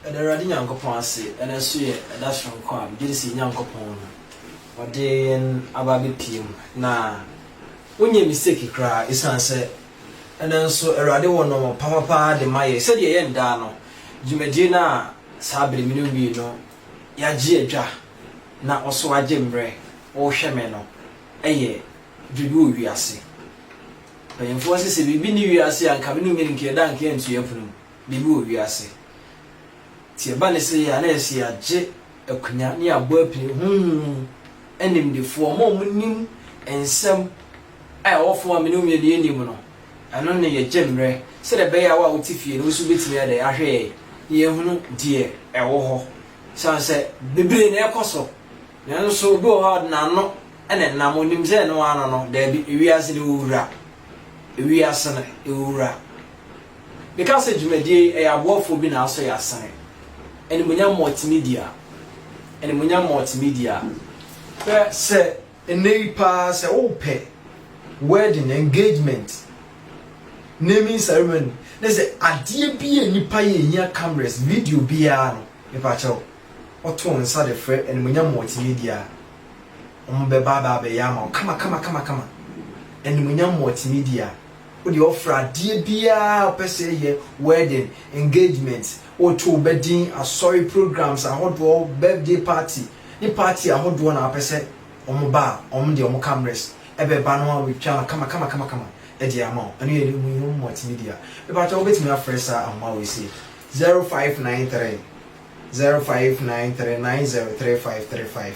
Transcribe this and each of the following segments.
Ɛda Awurade Nyankopɔn ase, ɛno nso yɛ ɛda soronko a megye di sɛ yɛn Nyankopɔn na ɔde yɛn aba abɛpue mu, na wonyɛɛ mistake koraa, ɛsiane sɛ ɛnnɛ nso Awurade wɔ nnoɔma papapa de ma yɛn. Sɛdeɛ yɛn daa no, dwumadie no a saa bere mene wii no, yɛagye adwa, na wo nso wagye mmerɛ wohwɛ me no, ɛyɛ biribi wɔ wiase. Mpanyimfoɔ se sɛ biribi nni wiase a, anka me ne wo nyɛ no nka yɛda anka yɛnto yɛn pono mu. biribi wɔ wiase. Nti ɛba ne sɛ yɛ a na ɛyɛ sɛ yɛagye akunya ne yɛabɔ apini honhom mu animdefoɔ, wɔn a wɔnim nsɛm a ɛwɔ fam a me ne wo mmienu yɛnnim no. Ɛno ne yɛgye mmerɛ sɛdeɛ ɛbɛyɛ a wo a wote fie no wo nso wobɛtumi ayɛ dɛn ahwɛ yɛn na yɛahunu deɛ ɛwɔ hɔ. Ɛsiane sɛ bebree na ɛrekɔ so nanso obi wɔ hɔ a ɔde n'ano na ɛnam, ɔnim sɛ ɛno ara no no, daabi, ewiase no ɛwɔ wura, ewiase no ɛwɔ wura. Meka sɛ dwumadie yi ɛyɛ aboafoɔ bi na asɔ yɛ asene, Animuonyam Multimedia, Animuonyam Multimedia. Hwɛ sɛ nnɛ yi paa sɛ wopɛ wedding, engagement, naming ceremony ne sɛ adeɛ bi a nnipa yɛ ɛhia cameras, video biara no mepakyɛw woto wo nsa de frɛ Animuonyam Multimedia a wɔbɛba abɛyɛ ama wo kama kama kama kama, Animuonyam Multimedia. Wo deɛ ɔfrɛ adeɛ biara a ɔpɛ sɛ yɛ, wedding, engagement, woto wo ba din, asɔre programs ahodoɔ, birthday party ne party ahodoɔ na wopɛ sɛ wɔn ba a, wɔn deɛ wɔn cameras bɛba na wɔatwa no kamakamakama de ama wo. Ɛno yɛ Muhyium Multimedia. Mepakyɛw wobɛtumi afrɛ saa ahoma wei sei, zero five nine three, zero five nine three nine zero three five three five.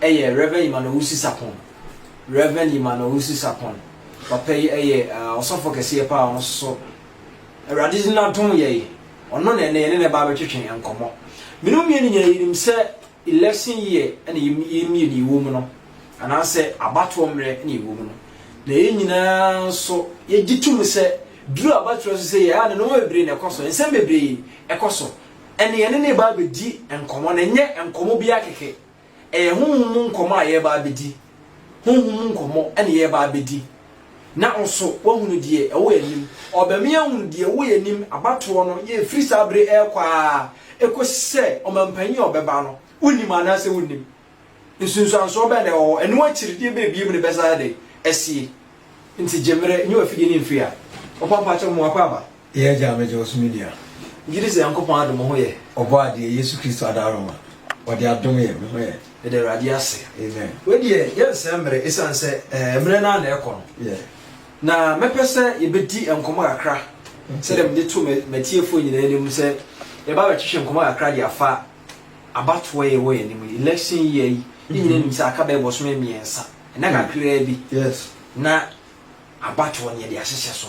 Ɛyɛ Rev. Yiman Owusu Sarpong. Rev. Yiman Owusu Sarpong, papa yi yɛ ɔsɔfoɔ kɛseɛ paa a ɔno nso so Awurade de n'adom yɛ yɛn. Ɔno na ɛnnɛ yɛne no reba abɛtwetwe nkɔmmɔ. Me ne wo mmienu nyinaa yɛnim sɛ election year na yɛm mmienu yi wɔ mu no, anaasɛ abatoɔ mmerɛ na yɛwɔ mu no, na yɛn nyinaa nso yɛgye to mu sɛ duru abatoɔ so sɛ yɛa ne nneɛma bebree na ɛkɔ so, nsɛm bebree ɛkɔ so, ɛnna yɛne no reba abɛdi nkɔmmɔ, na ɛnyɛ nkɔmmɔ biara kɛkɛ. Ɛyɛ honhom mu nkɔmmɔ a yɛreba abɛdi. Honhom mu nkɔmmɔ na yɛreba abɛdi. Na wo nso, woahunu deɛ ɛwɔ yɛn anim. Ɔbɛme ahunu deɛ ɛwɔ yɛn anim, abatoɔ no, yɛ ɛfiri saa berɛ yi rekɔ ara kɔsi sɛ ɔmampanin a ɔbɛba no, wonim anaasɛ wonnim? Nsunsuansoɔ bɛn na ɛwɔ hɔ? Ɛno akyiri deɛ bɛn bio na ɛbɛsan ayɛ dɛn? Asie. Enti gye mmerɛ, nyi w'afidie no mfiri ha. Ɔpampakyɛw, mmoa pa aba. Yɛn Agya a megye wo so me nua. Megye di sɛ Nyankopɔn adom ho yɛ. Ɔbɔadeɛ Yesu Kristo adaaroma. Ɔde adom yɛ me ho yɛ. Meda Awurade ase. Amen. Wei deɛ yɛnsɛe mmerɛ ɛsiane sɛ ɛɛ mmerɛ no ara na ɛrekɔ no. Yeah. Na mɛpɛ sɛ yɛbɛdi nkɔmmɔ kakra sɛdeɛ mede to mɛ m'atiefoɔ nyinaa anim sɛ yɛba bɛtwetwe nkɔmmɔ kakra de afa abatoɔ yɛ wɔ yɛn anim yi election year yi ne nyinaa nim sɛ aka bɛyɛ bɔsome mmiɛnsa ɛna kakraa bi. Yes. Na abatoɔ no yɛde ahyehyɛ so.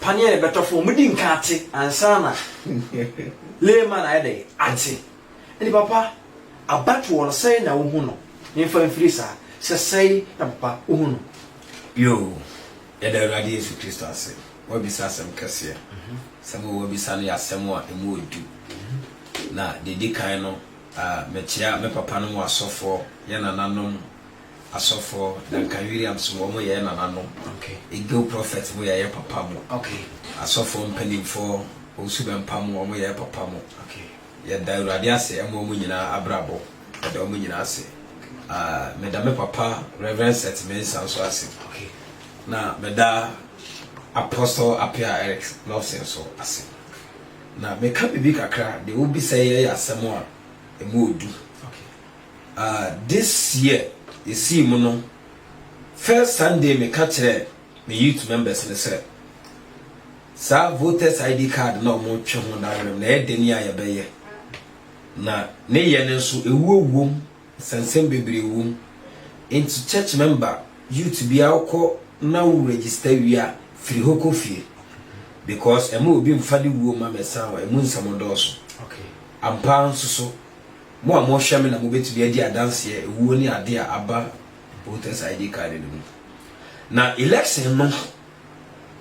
Paneɛ a yɛbɛtɔ fam, wɔn di nka ate ansa na layman ayɛ dɛ ate. Ɛnti papa, abatoɔ no sɛn na wohu no? Memfa mfiri saa, sɛ sɛn na papa wohu no? Yoo, yɛda Awurade Yesu Kristo ase. Woabisa asɛm kɛseɛ. Asɛm a woabisa no yɛ asɛm a ɛmu yɛ du. Na deɛ ɛdi kan no, mekyea me papanom asɔfoɔ, yɛn nananom, asɔfoɔ Duncan Williams mu wɔn yɛɛ nananom Eagle Prophet mu yɛɛ papa mo asɔfoɔ mpaninfoɔ Owusu Bɛmpa mu wɔn yɛɛ papa mo yɛda Awurade ase ɛma wɔn nyinaa abrabɔ yɛda wɔn nyinaa ase ah meda me papa Reverend Seth Mensah nso ase na meda Apostle Appiah Eric Lawson nso ase na meka biribi kakra deɛ wobisa yi yɛ asɛm a ɛmu ɔdu. Ah this year yɛsii mu no first Sunday meka kyerɛɛ me youth members no sɛ saa voters ID card na wɔn twe ho dawerem na ɛyɛ deni a yɛbɛyɛ na ne yɛ no nso ewuo wom nsɛnsɛm bebree wom nti church member youth biara wokɔ na wo register wie a firi hɔ kɔ fie because ɛma obi mfa ne wuo ma mɛsan wɔ ɛmu nsɛm dɔɔso ampa nso so Mo a mohwɛ me na mobɛtumi adi adanseɛ awuo ne adeɛ a aba protest ID card no mu. Na election no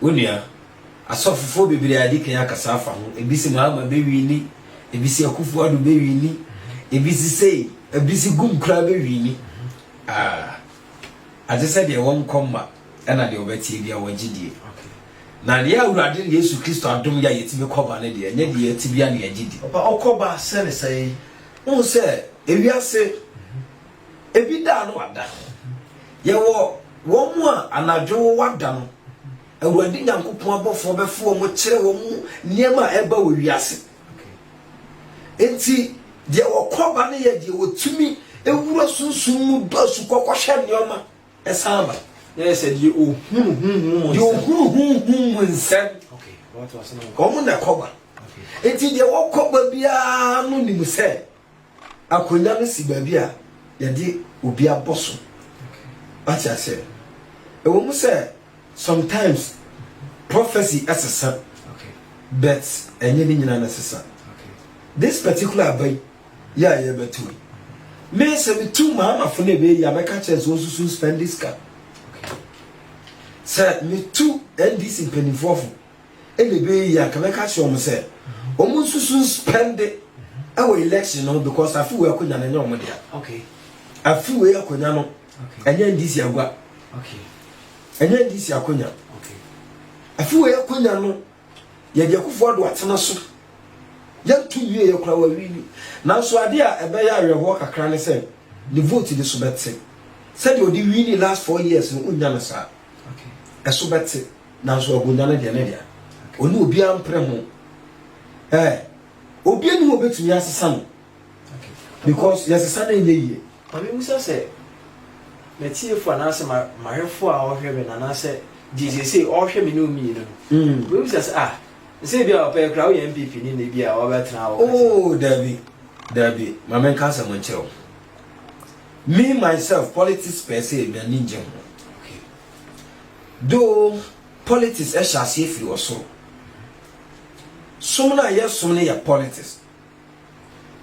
onua, asɔfofoɔ bebree a yɛadi kan akasa afa ho, ebi se Mahama bɛwini, ebi se Akufo Addo bɛwini, ebi se sei, ebi se Gum koraa bɛwini. Ah, agye sɛ deɛ wɔnkɔ mma. Ɛna deɛ ɔbɛteɛ biara wagye die. Na yɛ Awurade Yesu Kristo adom yɛ a yɛtumi kɔ ba no deɛ, ɛnyɛ deɛ yɛte biara na yɛgye di. Ɔba ɔkɔ ba sɛ ne sɛn? Wohu sɛ ewiase, ebi da a na wada. Yɛwɔ wɔn a anadwo wɔada no, Awurade Nyankopɔn abɔfoɔ bɛfo wɔn kyerɛ wɔn nneɛma a ɛreba wɔ wiase. Enti deɛ wɔkɔ ba no yɛ deɛ wɔtumi wura sunsum mu dɔ asukɔ kɔhwɛ nneɛma. Ɛsan ba, na ɛyɛ sɛ deɛ ɔhunu honhom mu nsɛm. Deɛ ɔhunu honhom mu nsɛm. Wɔn na ɛkɔba. Enti deɛ wɔkɔba biara no nim sɛ akonnwa no si baabi a yɛde obi abɔ so. Wate aseɛ? Ɛwɔ mu sɛ. Sometimes prophecy sesa but ɛnyɛ ne nyinaa na ɛsesa. This particular aba yi yɛ a yɛbɛto yi, me sɛ metu maamafo no ɛbɛyɛ yi a mɛka kyerɛ sɛ wɔnsusu spending sika. Sɛ metu NDC mpanimfoɔ fo ɛna ɛbɛyɛ yi a nka mɛka kyerɛ wɔn sɛ wɔn nsusu spende ɛwɔ election no because afi wei akonnwa no ɛnyɛ wɔn dea. Afi wei akonnwa no ɛnyɛ ndc agua ɛnyɛ ndc akonya ɛfi wei akonya no yɛde akufoɔ do atena so yɛnto nwie yɛ kora wawi ni nanso adeɛ a ɛbɛyɛ awerɛhoɔ kakra ne sɛ ne vote de so bɛte sɛdeɛ ɔde wi ni last four years no wonya no saa ɛso bɛte nanso akonya no deɛ ne deɛ ɔne obiara mpere ho ɛɛ obiara ni hɔ bɛtumi asesa no because yɛsesa no nyɛ yie. Ma memmisa sɛ m'atiefo anaasɛ m'ahwɛfo a ɔhwɛ me no anaasɛ deɛ seesei ɔhwɛ me ne wo mmienu no mm. wobɛbisa sɛ ah sɛ bi a ɔpɛ kora woyɛ mpp ne nɛ bi a wɔbɛtena wɔ oh, daabi daabi ma menka asɛm nkyerɛ wo me myself politics pɛɛ sɛ m'ani ngye ho though politics ɛhyɛ aseɛ firi ɔsoro som no a yɛsom no yɛ politics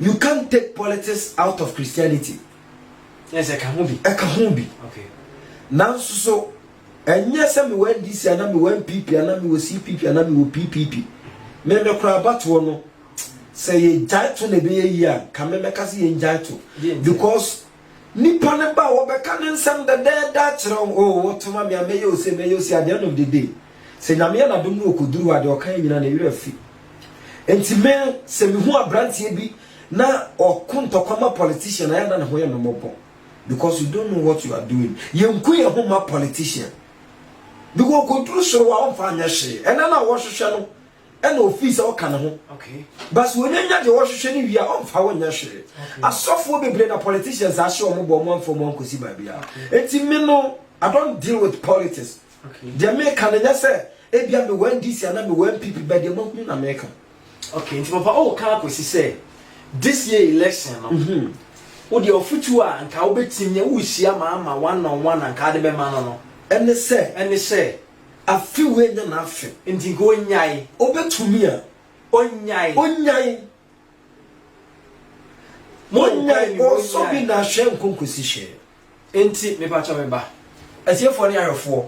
You can't take politics out of Christianity. Yes, ɛka ho bi. Ɛka ho bi. Okay. Nanso so, ɛnyɛ sɛ mewɔ NDC anaa mewɔ NPP anaa mewɔ CPP anaa mewɔ PPP. Mɛmɛ koraa abatoɔ no, sɛ yɛgyae to na ɛbɛyɛ yie a, ka mɛmɛka sɛ yɛngyae to. Because Nipa no ba a, wɔbɛka ne nsɛm dɛdɛɛdɛ akyerɛ wo, Oh, wɔtoma me a, mɛyɛ wo sei, mɛyɛ wo sei, adeɛ nom dede. Sɛ Nyame yɛ n'adom na ɔkɔduru hɔ a, deɛ ɔkaeɛ nyinaa, ne werɛ afi. Enti me, sɛ mehu abranteɛ bi na ɔko ntɔkwa ma politician a, ɛyɛ a na ne ho yɛ me mmɔbɔ. Because you don't know what you are doing. Yɛnku yɛn ho mma politician. Because ɔkɔduru soro hɔ a, ɔmfa nyɛ hwee. Ɛna no a wɔhwehwɛ no, ɛna ofii sɛ ɔka ne ho bas wɔnya nya deɛ ɔhwehwɛ no wie a ɔmfa wo nyɛ hwee asɔfoɔ bebree na politicians ahyɛ ɔmo bɔ ɔmo amfa ɔmo ankɔsi baabi a enti me no I don't deal with politics deɛ meka no nyɛ sɛ ebia me wɔn DC anaa me wɔn PP bɛ deɛ mahunu na meka okay nti papa ɔwɔ ka akɔsi sɛ this year election no mhm. wo deɛ ɔfotuo a nka wobɛtumi wohyia ma ama one on one anka de bɛma no no ɛne sɛ ɛne sɛ Afe wei nyɛ n'afe nti nka ɔnnyae. Ɔbɛtumi a, ɔnnyae. Ɔnnyae. Monnyae, ɔnsɔ bi na ahwɛ nkɔ nkɔsi hwɛ. Nti, mepakyɛ me ba. Atiefoɔ ne ahwɛfoɔ,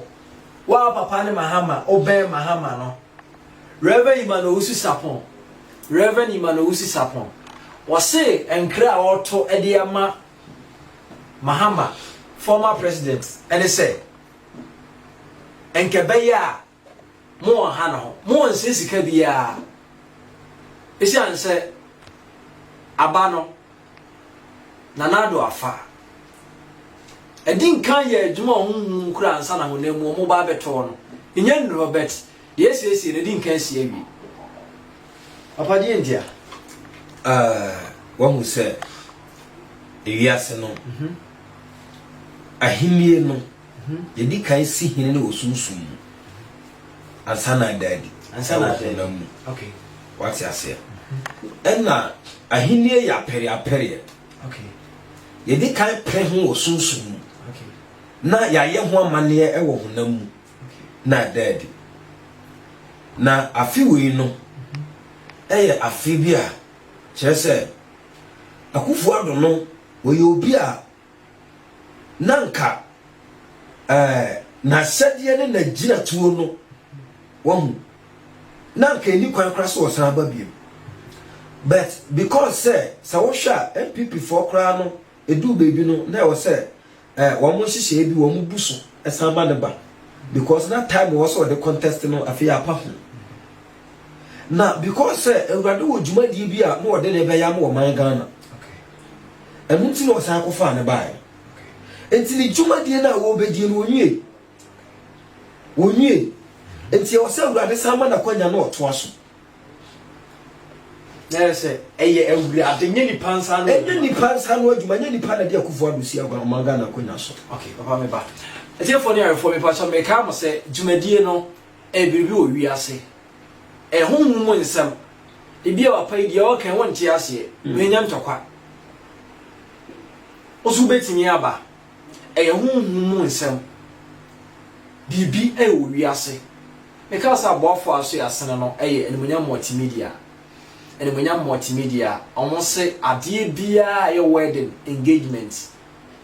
wo a wo papa ne Mahama, wobɛn Mahama no, Rev. Emmanuel Owusu Sarpong, Rev. Emmanuel Owusu Sarpong, wɔse nkra a ɔreto de ama Mahama, former president, ne sɛ. Nka ɛbɛyɛ a mo wɔ ha no ho. Mo wɔ nsɛ sika biara. Esiane sɛ aba no Nana Addo afa. Ɛdi nkan yɛ adwuma a wɔn num kura ansa na honam mu wɔn ba abɛtɔ no. Nya nnuru hɔ bɛt. Yɛsiesie no, ɛdi nkan si awie. Papa deɛ nti a, uh, wahu sɛ ewiase no. Mm -hmm. Ahenni no, yɛdi kan si hene no wɔ sunsum mu ansa na ada adi wɔ honam mu. Wate aseɛ? Ɛna ahenni yɛ apɛreapɛreɛ. Yɛdi kan pere ho wɔ sunsum mu na yɛayɛ ho amanneɛ wɔ honam mu na ada adi. Na afe wei no ɛyɛ afe bi a kyerɛ sɛ Akufo-Addo no Ɔyɛ obi a na anka eh, n'ahyɛdeɛ ne n'agyinatuo no, wahu, na anka ɛni kwan koraa sɛ ɔsan aba biom. But because sɛ, sɛ wohwɛ a, NPP foɔ koraa no, ɛduu baabi no, na ɛwɔ sɛ Eh, wɔn nhyehyɛe bi wɔn bu so san ma no ba because na time wɔ sɛ ɔde contest no afei apa ho na because sɛ awurade wɔ dwumadie bi a na ɔde ne bɛyɛ ama ɔman ghana ɛno nti na ɔsan kɔfaa ne baeɛ nti ne dwumadie no a wɔbɛdie no ɔnwie ɔnwie nti ɛwɔ sɛ awurade san ma nakwanya na ɔtoa so Nyɛ sɛ ɛyɛ awurade nyɛ nipa nsa ano. Ɛnyɛ nipa nsa ano adwuma nyɛ nipa na de akufo adosi agua na ɔman Ghana akonya so. Okay, papa me ba. Ɛtiefo ne ayɛfo me pa sɛ me ka mo sɛ dwumadie no ɛyɛ biribi wɔ wiase. Ɛho hu mu nsɛm. Ebi a papa yi deɛ ɔka ɛho nte aseɛ. Mm. Menya ntɔkwa. Osu betumi aba. Ɛyɛ ho hu mu nsɛm. Biribi ɛwɔ wiase. Me kaa sɛ aboafoɔ a so yɛ asene no yɛ Animuonyam Multimedia. Animuonyam Multimedia, ɔmo se adeɛ biaa a ɛyɛ wedding, engagement,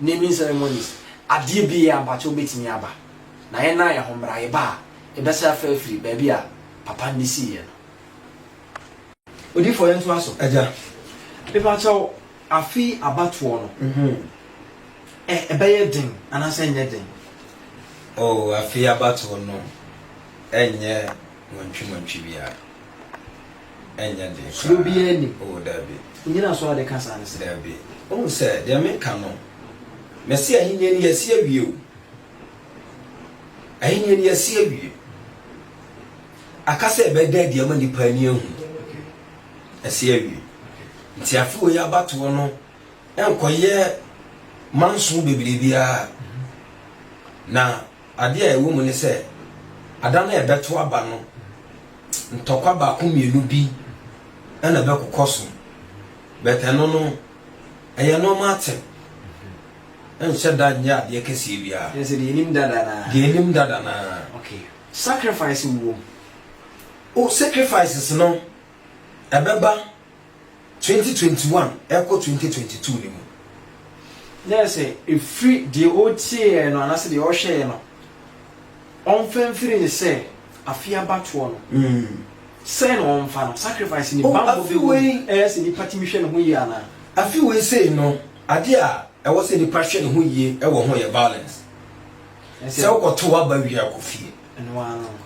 naming ceremonies, adeɛ biaa mpakyɛw bɛtumi aba. Na yɛn naa yɛ ho mmra, yɛba a yɛbɛsɛ afra afiri baabi a papa no de sii yɛ no. Odiyifoɔ yɛntoa so agya. Mepakyɛw Afe yi abatoɔ no ɛ ɛbɛyɛ den anaasɛ ɛnyɛ den? Oh, afe yi abatoɔ no ɛnyɛ montwi-montwi biara, ɛnyɛ den koraa. Suro biara nni mu? Oh, dabi. Nnyinasoɔ a wode ka saa ne sɛn? Dabi. Wohu sɛ, deɛ meka no, mese Ahennie no yɛasi awie o. Ahennie no yɛasi awie. Aka sɛ yɛbɛda adi ama nnipa ani ahunu. asi awie. Nti afeoi yi abatoɔ no nkɔyɛ manso bebree biara. Na adeɛ a ɛwɔ mu ne sɛ, ada no a ɛbɛto aba no, ntɔkwa baako mmienu bi na ɛbɛkokɔ so. But ɛno no, ɛyɛ normal thing. Ɛnhyɛ da nyɛ adeɛ kɛseɛ biara. Ɛne sɛ deɛ yɛnim dada no ara. Deɛ yɛnim dada no ara. Okay. Sacrifice wɔ mu. O sacrifices no ɛbɛba twenty twenty one ɛkɔ twenty twenty two ne mu. Na yɛ sɛ ɛfiri deɛ ɔtieɛ no anaasɛ deɛ ɔhwɛɛ no ɔmfa mfiri ne sɛ afeɛ abatoɔ no sɛn na ɔmfa no sacrifice ne bammɔ bɛ wɔ mu ɛyɛ sɛ nipa tumi hwɛ ne ho yie anaa. Afe wei sei no adeɛ a ɛwɔ sɛ nipa hwɛ ne ho yie wɔ ho yɛ violence sɛ wokɔto waba wie akɔ fie. Ɛno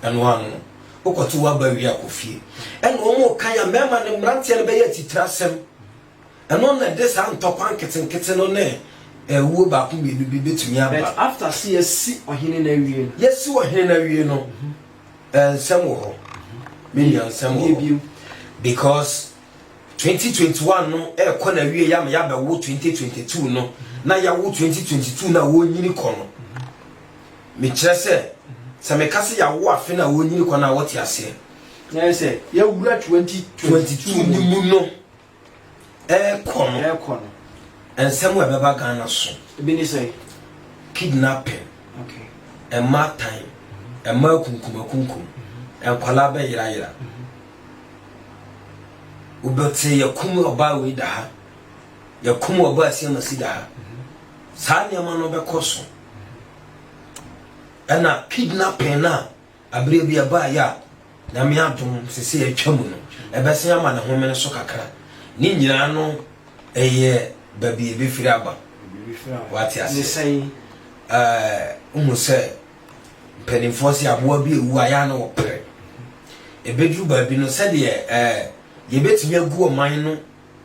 ano no, wokɔto w'aba wie a, kɔ fie. Ɛna wɔn reka yɛ mmarima ne mmeranteɛ no bɛyɛ atitire asɛm. Ɛno na ɛde saa ntɔkwa nketenkete no ne ɛwuo baako mmienu bi bɛtumi aba. But after se yɛasi ɔhene no awie no. Yɛasi ɔhene no awie no, eh, nsɛm wɔ hɔ. Me nua nsɛm wɔ hɔ. Because 2021 no ɛrekɔ na awie yɛ ama yɛabɛwo 2022 no na yɛawo 2022 no a wɔnyini kɔ no. Mekyerɛ sɛ, sɛ meka sɛ yɛawo afe no a wɔrenyini kɔ no a, wote aseɛ? Ɛne sɛ, yɛawura 2022 no mu no ɛrekɔ no, ɛrekɔ no. nsɛm a ɛbɛba Ghana so. Ebi ne sɛn? Kidnapping, Okay. mmatan, mmaa akunkumakunkum, nkwadaa bɛyerayera. Wobɛte yɛkum ɔbaa wei da ha, yɛkum ɔbaa siamasi da ha. Saa nneɛma no bɛkɔ so. ɛna kidnapping no a aberɛ bi ɛbaeɛ a nyame adom sese atwa mu no ɛbɛsen ama ne homene so kakra ne nyinaa no ɛyɛ baabi ɛbɛfiri aba wate ase wohu sɛ mpanimfoɔ sɛ aboa bi ɛwu a yɛa na wɔpere ɛbɛduru baabi no sɛdeɛ yɛbɛtumi agu ɔman no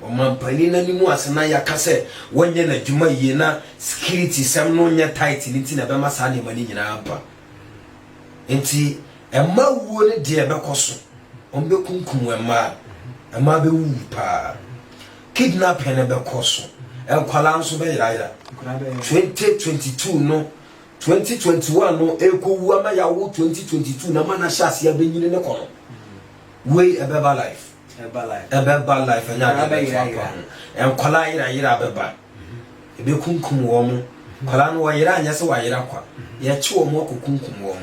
Ɔmanpanin no anim ase na yɛaka sɛ wɔnyɛ n'adwuma yie na sikiritisɛm no nyɛ tight no nti na ɛbɛma saa nneɛma no nyinaa aba. Enti mmaa wuo no deɛ ɛbɛkɔ so. Wɔbɛkunkum mmaa. Mmaa bɛwuwu paa. Kidnapping no bɛkɔ so. Nkwadaa nso bɛyerayera. 2022 no 2021 no ɛrekɔwu ama yɛawo 2022 no ama no ahyɛ aseɛ abɛnyini ne kɔ no. Wei ɛbɛba life. Ɛbɛba life. Ɛbɛba life ɛnyɛ adeɛ bɛto apa ho. Nkwadaa yera yera bɛba. Ebekunkum wɔn. Mm-hmm. Nkwadaa no wɔyera anyɛ sɛ wɔayera kwa. Mm-hmm. Yɛkye wɔn akɔ kunkum wɔn.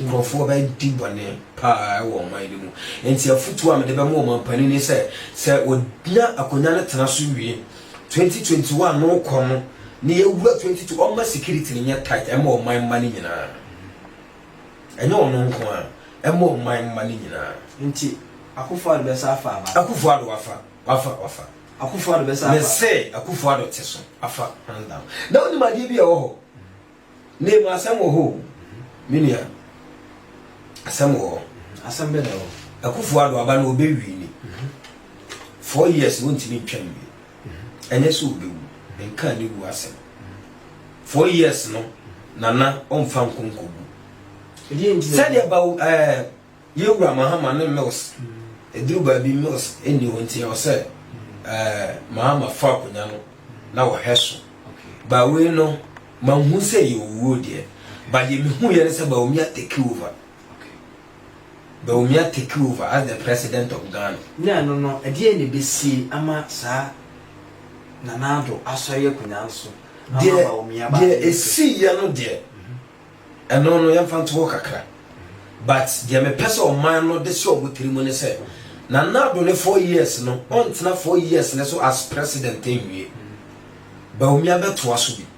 Nkurɔfoɔ bɛdi bɔne paa wɔ ɔman bi mu. Nti afutuo a mede bɛma wɔn ampanin ne sɛ sɛ wɔnya akonnwa no tena so wie 2021 no kɔ no ne yɛwura 22 ɔma security no nyɛ tight ɛma ɔman mma no nyinaa. Ɛnyɛ ɔno nko a, ɛma ɔman mma no nyinaa. Nti Akufo Addo bɛsa afa aba. Akufo Addo wafa, wafa, wafa. Akufo Addo bɛsa afa. Me se Akufo Addo te so afa hands down. Na wonim adeɛ bi a ɛwɔ hɔ? Name asɛm wɔ hɔ o, me nua. Asɛm wɔ hɔ. Asɛm bɛ na ɛwɔ hɔ? Akufo Addo aba na ɔbɛ wini. Four years wontumi ntwa nwie. ɛnyɛ sɛ ɔbɛwu, menkaa ne wuo asɛm. Four years no, Nana ɔmfa nkɔ nkɔgu. Sɛdeɛ ba ɛɛ yɛwura Mahama ne Mills, ɛduru baabi Mills ɛnni hɔ nti ɛwɔ sɛ ɛɛ Mahama fa akonnwa no na ɔhwɛ so. Bawei no, manhu sɛ yɛ owuo deɛ, but deɛ mehuiɛ ne sɛ Bawumia take over. Bawumia take over as the president of Ghana. Ne ɛno no, ɛdeɛn na ɛbɛsie ama saa Nana Addo asɔre akonnwa no so ama Bawumia ba abɛyɛ president? Deɛ ɛsiiɛ no deɛ, ɛno no yɛmfa nto hɔ kakra. But deɛ mepɛ sɛ ɔman no de hyɛ wɔn tiri mu ne sɛ, Nana Addo ne four years no, ɔntena four years no so as president nwie. Bawumia bɛtoa so bi.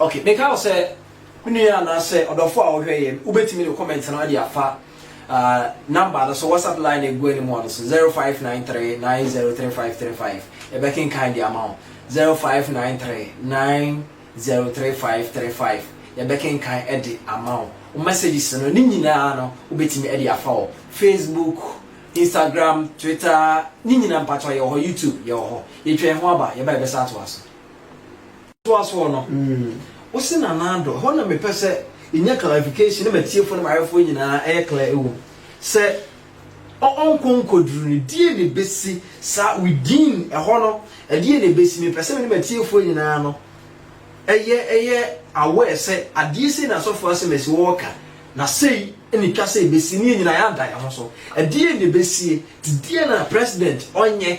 Okay, meka wo sɛ me nua anaasɛ ɔdɔfo a ɔhwɛ yɛ, wobɛtumi de comment no de afa uh, number no so WhatsApp line na egu anim no so 0593903535 yɛbɛkenkan de ama wo 0593903535 yɛbɛkenkan de ama wo wo messages no ne nyinaa no wobɛtumi de afa wɔ Facebook Instagram Twitter ne nyinaa mpatɔ yɛwɔ hɔ YouTube yɛwɔ hɔ yɛtwɛn ho aba yɛba yɛbɛsa atoa so toa soɔ no wosi na nan do ɛhɔ na mepɛ sɛ yɛnya clarification ne matiefo ne maayɛfoɔ nyinaa ɛyɛ clear ɛwɔ mu sɛ ɔnkɔ nkɔduru no deɛ ne bɛsi saa within ɛhɔ no ɛdeɛ ne bɛsi mepɛ sɛ mene matiefoɔ nyinaa no ɛyɛ ɛyɛ aware sɛ adeɛ sei na asɔfoɔ asɛm asi wɔɔka na sei ne twa sɛ ɛbɛsi ne nyinaa yɛada yɛ ho so ɛdeɛ ne bɛsie te deɛ na president ɔnyɛ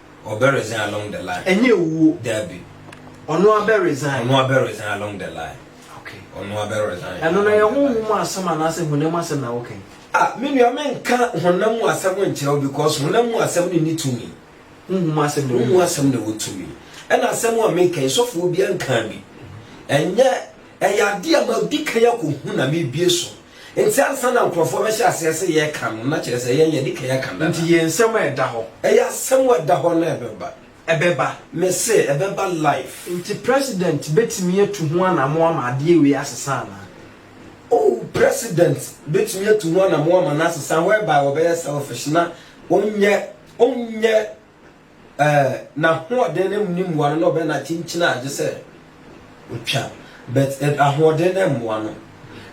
ɔbɛ resign along the line. Ɛnyɛ owuo. Dabi. Ɔno abɛ resign. Ɔno abɛ resign along the line. Okay. Ɔno abɛ resign. Ɛno na yɛ honhom mu asɛm anaasɛ honam asɛm na wokan. Ah, me nua me nka honam mu asɛm nkyerɛ wo because honam mu asɛm ne ne tumi. Honhom mu asɛm na wo. Honhom mu asɛm na wo tumi. Ɛna asɛm a meka yi sɔfoɔ bi nka bi. Ɛnyɛ ɛyɛ adeɛ a ma di kan akɔhu na mebie so. Enti ansa na nkurɔfoɔ bɛhyɛ aseɛ sɛ yɛka no, na kyerɛ sɛ yɛn yɛadi kan aka dada. Enti yɛn nsɛm a ɛda hɔ. Ɛyɛ asɛm a ɛda hɔ na ɛbɛba. Ɛbɛba. Mese, ɛbɛba live. Enti President bɛtumi atu ho anammɔn ama adeɛ wei asesa anaa? Oh, President bɛtumi atu ho anammɔn ama no asesa whereby ɔbɛyɛ selfish na ɔnyɛ, ɔnyɛ. Eh n'ahoɔden no ne mmoa no na ɔbɛ na kyinkyini a gye sɛ ɔtwa but eh ahoɔden no mmoa no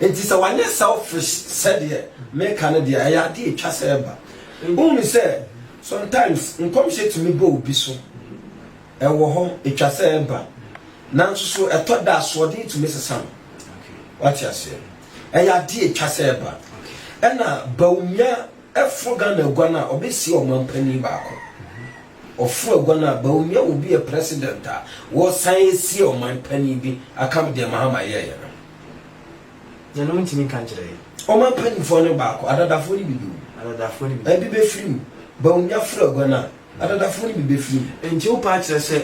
nti sɛ wanyɛ selfish sɛdeɛ meka no deɛ ɛyɛ adeɛ ɛtwa sɛ ɛba wohunu sɛ sometimes nkɔmhyɛ tumi ba obi so ɛwɔ hɔ ɛtwa sɛ ɛba nanso so ɛtɔ da asoɔden tumi sesa no wate aseɛ ɛyɛ adeɛ ɛtwa sɛ ɛba ɛna Bawumia Ɛforo Ghana aguan a ɔbɛsie ɔmanpanin baako. Ɔforo aguan a Bawumia will be a president a wɔresan asie ɔmanpanin bi akam deɛ Mahama yɛeɛ no. Deɛ no wontumi nka nkyerɛ yɛn. Ɔmanpanimfoɔ no baako, adadafoɔ no bi bɛwu. Adadafoɔ no bi. Ebi bɛfiri mu. Bawumia foro aguan a, adadafoɔ no bi bɛfiri mu. Nti wopɛ akyerɛ sɛ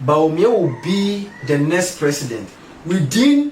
Bawumia will be the next president within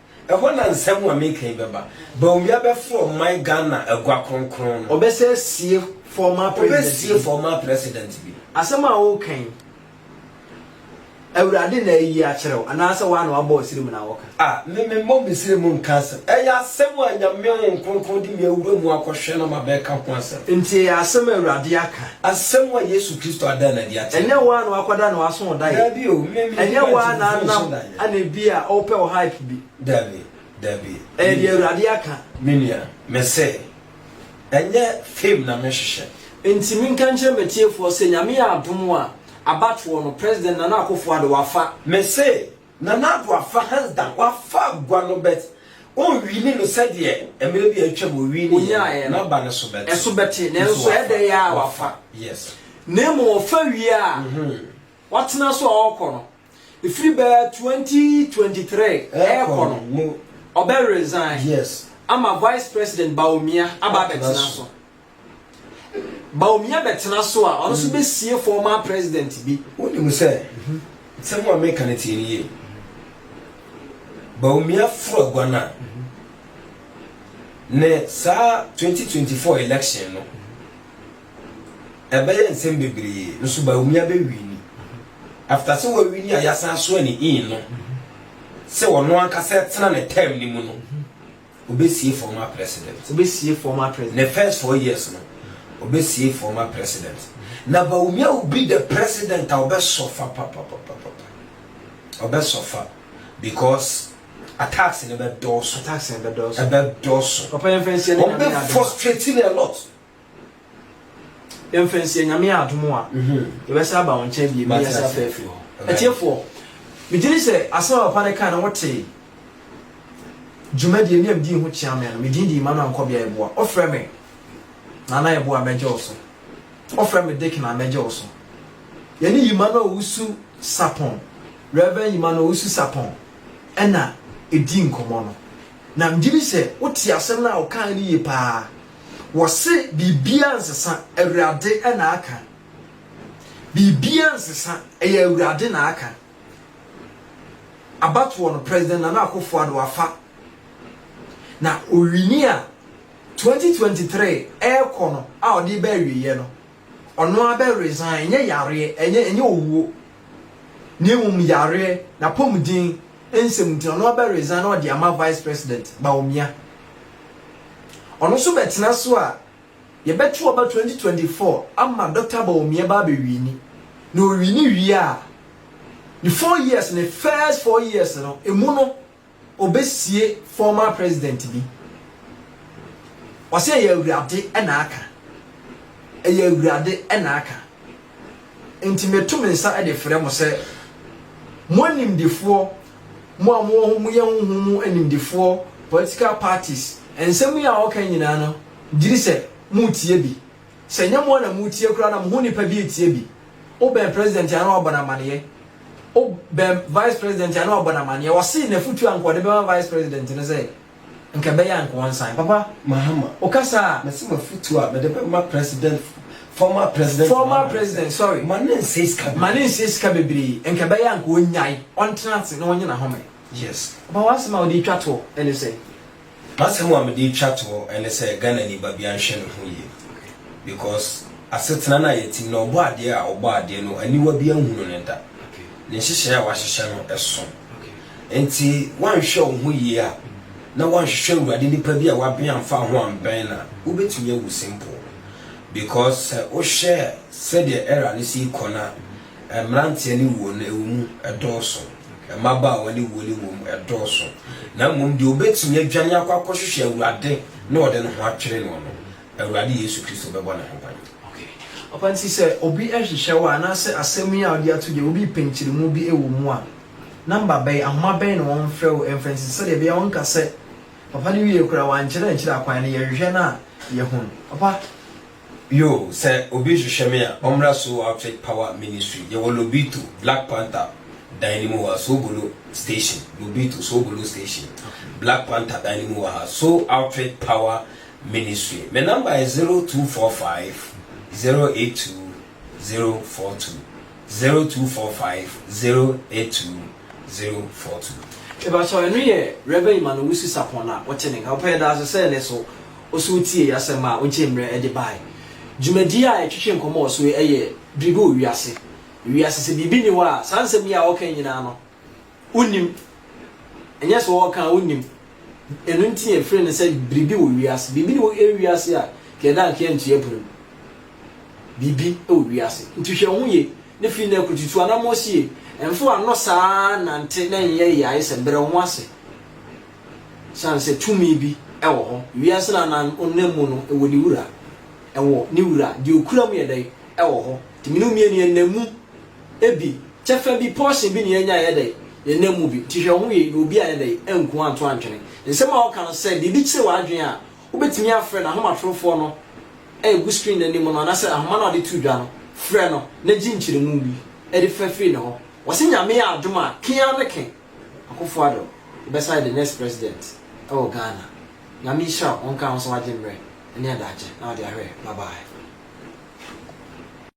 Ɛhɔ na nsɛm a mereka yi bɛba. Bawumia bɛfrɛ ɔman Ghana agua kronkron no. Ɔbɛsan asie former president bi. Ɔbɛsie former president bi. Asɛm a woreka yi, Awurade na ayi akyerɛ wo anaasɛ woa na woabɔ w'sere mu na woreka? Ah, me memmɔ me sere mu nka asɛm. Ɛyɛ asɛm a Nyame Honhom Kronkron de me awura mu akɔhwɛ na mabɛka ho asɛm. Nti ɛyɛ asɛm a Awurade aka. Asɛm a Yesu Kristo ada no adi akyerɛ. Ɛnyɛ wo ara na woakɔda na w'aso wo daeɛ. Dabi o, me me Ɛnyɛ wo ara na mentu anam nso da ɛna ebi a wopɛ wo hype bi. Dabi, dabi. Ɛyɛ deɛ Awurade aka. Me nua, mese, ɛnyɛ fame na mehwehwɛ. Enti menka nkyerɛ m'atiefoɔ sɛ Nyame yɛ adom a, abatoɔ no, President Nana Akufo-Addo wafa. Mese, Nana Addo afa hands down wafa agua no but ɔnwini no sɛdeɛ mmerɛ bi a atwam ɔwiniiɛ no n'aba no so bɛte ɛso bɛte nanso ɛyɛ dɛ yɛ a wafa yes na mmom ɔfa wie a watena so a ɔrekɔ no ɛfiri bɛɛ 2023 ɛrekɔ no ɔbɛ resign yes ama vice president Bawumia aba abɛtena so. Bawumia bɛtena so a, ɔno nso mm. bɛsie former president bi. Wonim sɛ, mhm. sɛm a meka no tie no yie. Bawumia foro agua no a, mhm. ne saa 2024 election no, ɛbɛyɛ nsɛm bebree nso Bawumia bɛwi ni. After sɛ wawi ni a yɛasan soa ne in no, sɛ ɔno ankasa tena ne term no mu no, Obesie former president. Obesie former president. Ne first four years no, obesie former president. Na Bawumia will be the president a ɔbɛsɔfa papapapapa. Ɔbɛsɔfa because attacks no bɛdɔɔso. Attacks no bɛdɔɔso. Ɛbɛdɔɔso. Papa yɛn fɛn si ɛne nyame adoma. Ɔbɛ frustrate no a lot. yɛmfa nsie nyame yɛ adom a yɛbɛsa aba wo nkyɛn bie meyɛ sɛ afɛ afiri hɔ atiefoɔ megye ne sɛ asɛm a papa no kaa na wotee dwumadie ne amdii ho kyea me no medin de ima no ankɔ bea yɛboa ɔfrɛ me nana yɛboa mɛgye wo so ɔfrɛ me dek na mɛgye wo so yɛne yima no owusu sapɔn reverend yima no owusu sapɔn ɛna ɛdi nkɔmmɔ no na megye ne sɛ wote asɛm no a wokaa no yie paa Wɔse biribiara nsesa, Awurade na aka. Biribiara nsesa, ɛyɛ Awurade na aka. Abatoɔ no, President Nana Akufo-Addo wafa. Na ɔwini a, 2023 ɛrekɔ no a ɔde reba awieɛ no, Ɔno ara bɛ resign, ɛnyɛ yareɛ, ɛnyɛ ɛnyɛ owuo, na mmom yareɛ, n'apɔmuden nsɛm nti, ɔno ara bɛ resign na ɔde ama Vice President Bawumia. Ɔno nso bɛtena so a, yɛbɛto aba 2024 ama Dɔkta Bawumia ba abɛwini, na ɔwini wie a, ne four years, ne first four years no, emu no, ɔbɛsie former president bi. Ɔsɛ ɛyɛ awurade na aka. Ɛyɛ awurade na aka. Nti meto me nsa de frɛ mo sɛ mo animdefoɔ, mo a mowɔ ho moyɛ honhom mu animdefoɔ, political parties, nsɛm yi a ɔka nyinaa no, gyiri sɛ moretie bi. Sɛ nyɛ mo a na moretie koraa na mo ho nipa bi retie bi. Wobɛn president a na wabɔ no amaneɛ O bɛm Vice President a na ɔabɔ no amaneɛ, ɔsee n'afutuo a nka ɔde bɛma Vice President no sɛ, nka ɛbɛyɛ a nka ɔnsan. Papa Mahama, wokasa a. Mese m'afutuo a mede bɛma President, former President Mahama no sɛ. Former President, sorry. Ma no nnsɛe sika bebree. Ma no nnsɛe sika bebree, nka ɛbɛyɛ a nka ɔnyae, ɔntena ase na ɔnye n'ahome. Yes. Papa w'asɛm a wode retwa toɔ ne sɛ. M'asɛm a mede retwa to hɔ ne sɛ Ghanani babea nhwɛ ne ho yie because asetena no a yɛte mu no ɔbɔadeɛ a ɔbɔɔ adeɛ no aniwa bi anhunu no da. Ne nhyehyɛe a wahyehyɛ no so. Enti woanhwɛ wo ho yie a na woanhwehwɛ Awurade nnipa bi a wabɛn amfa wo ho ambɛn no a, wobɛtumi awu simple because sɛ wohwɛ sɛdeɛ era no si rekɔ no a, Mmeranteɛ ne wuo no, ɛwɔ mu, ɛdɔɔso. Mmabaawa ne wuo no, ɛwɔ mu, ɛdɔɔso. Na mmom deɛ ɔbɛtumi adwane akɔ akɔhwehwɛ Awurade na ɔde ne ho atwere noɔ no, Awurade Yesu Kristo bɛbɔ ne ho ban. Okay. Papa, nti sɛ obi hwehwɛ wo a, anaasɛ asɛm yi a wode ato dwa yi, obi repɛ nkyerɛmu bi wɔ mu a, number bɛn, ahoma bɛn na wɔmfrɛ wo mfa nsi, sɛdeɛ ɛbɛyɛ a wonka sɛ, Papa no wiee koraa, wankyerɛ ankyerɛ akwan no, yɛhwehwɛ no a, yɛhunu. Papa, Bio, sɛ obi rehwehwɛ me a, ɔmmra Soul Outfit Power Ministry. Yɛwɔ Lobito, Black Panther dan no mu wɔ ha, Soubolo Station, Lobito, Soubolo Station, Black Panther dan no mu wɔ ha, Soul Outfit Power Ministry. Me number yɛ zero two four five zero eight two zero four two, zero two four five zero eight two zero four two. Mepakyɛw, ɛno yɛ Rev. Emmanuel Owusu-Sarpong na wote ne nka. Wopɛ yɛda ase sɛ ɛne so. ɔsɔɔ tiee asɛm a ɔgyee mmerɛ de baeɛ. Dwumadie a yɛtwetwe nkɔmmɔ wɔ so yi yɛ biribi wɔ wiase. Wiase sɛ biribi nni hɔ a, saa nsɛm yi a wɔka yi nyinaa no, wonnim. Ɛnyɛ sɛ wɔka a wonnim. Ɛno nti na yɛfrɛ no sɛ biribi wɔ wiase. Biribi nni hɔ wiase a, nka yɛda anka yɛantua pirim. Biribi wɔ wiase. Nti hwɛ wo ho yie na firi nnɛ rekɔ tutu anammɔn sie. Mfa w'ano saa ara nnante na nyɛ yae sɛ brɛ wo ho ase. Esiane sɛ tumi bi wɔ hɔ, wiase no anan ɔnam mu no wɔ ne wura. Ɛwɔ ne wura. Deɛ ɔkura mu yɛ dɛn? Ɛwɔ hɔ. Nti mene wo mmienu yɛnam mu bi. Kyɛfa bi, portion bi na yɛanya a ɛyɛ dɛn? Yɛnam mu bi. Nti hwɛ wo ho yie na obi ayɛ dɛn? Anku anto antwene. Nsɛm a wɔka no sɛ biribi kyere w'adwene a, wobɛtumi afrɛ n'ahomatorofoɔ no a ɛgu screen no anim no anaasɛ ahoma no a wɔde to dwa no, frɛ no na gye nkyerɛmu bi de fa firi ne hɔ. Wɔse Nyame yɛ adom a, ke ara ne ke. Akuffo Addo bɛsan yɛ the next president wɔ Ghana. Nyame nhyira wo, ɔnka wo nso wagye mmerɛ ne adagye na ɔde ahwɛ. Bye bye.